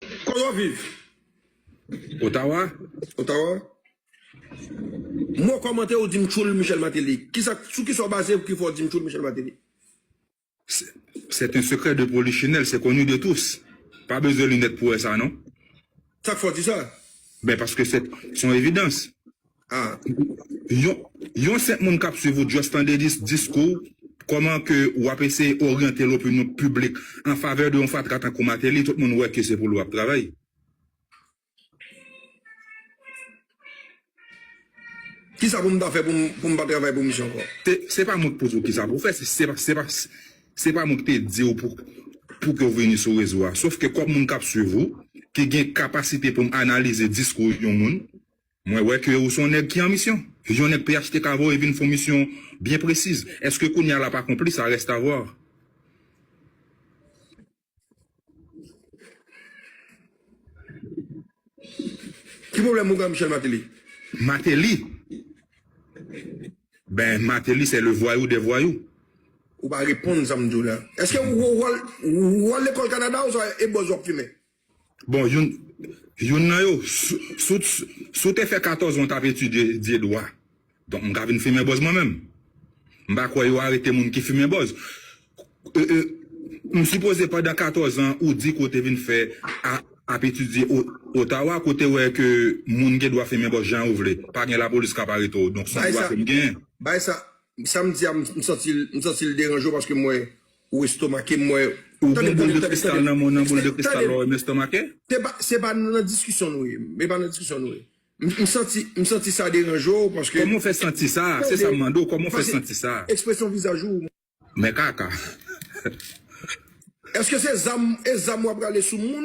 Koman w viv? Ottawa. Ottawa. Mo kòmantè ou di m tchoul Michel Martelly. Kisa, sou kisa w baze pou ki fè w di m tchoul Michel Martelly? C'est un secret de polichinelle, c'est connu de tous. Pa bezwen linèt pou wè sa non. Sa k fè w di sa? Ben paske se yon evidans. Ahh yon senp moun kap swiv ou just tande diskouw kòman ke wap eseye oryante lopinyon piblik an favè de yon fatra tankou Martelly tout moun wè ke se pou li wap travay. Kisa pou m ta fè pou m pa travay pou misye ankò? Se pa mwen k poze w kisa pou w fè, se pa mwen k te di w pou ke w vini sou rezo a. Sof ke kòm moun k ap swiv ou, ki gen kapasite pou m analize diskou yon moun, Mwen wè ke ou son nèg ki an misyon. Yon nèg phtk voye vin fon misyon byen presiz. Eske kounya lap akonpli sa reste à voir. Ki pwoblèm ou gen Michel Martelly? Mateli? Ben Mateli c'est le voyou des voyous. Ou pa reponn sa m di w la. Eske ou wè wòl lekòl Kanada ou sa e bòz wap fimen? Bon, youn youn nan yo, si w si w te fè 14 an w t ap etidye dwa, donk m ka vin fimen bòz mwen menm? M pa kwè yo arete moun ki fimen bòz. M sipoze pandan 14 an ou di ke w te vin fè ap etidye Ottawa ke w te wè ke moun gen dwa fimen bòz jan yo vle, pa gen lapolis k ap arete w. Donk se yon dwa ke m gen. Bay sa, sa m di a m santi l m santi l deranje w paske m wè Ou estomake m wè ou gon boul de kristal nan men w nan boul de kristal la wè m estomake. Se pa nan diskisyon nou ye e pa nan diskisyon nou ye m santi sa deranje w paske. Kòman w fè santi sa se sa m mande w kòman w fè santi sa. Ekspresyon vizaj ou. Men kaka. Eske se zam e zam w ap rale sou moun.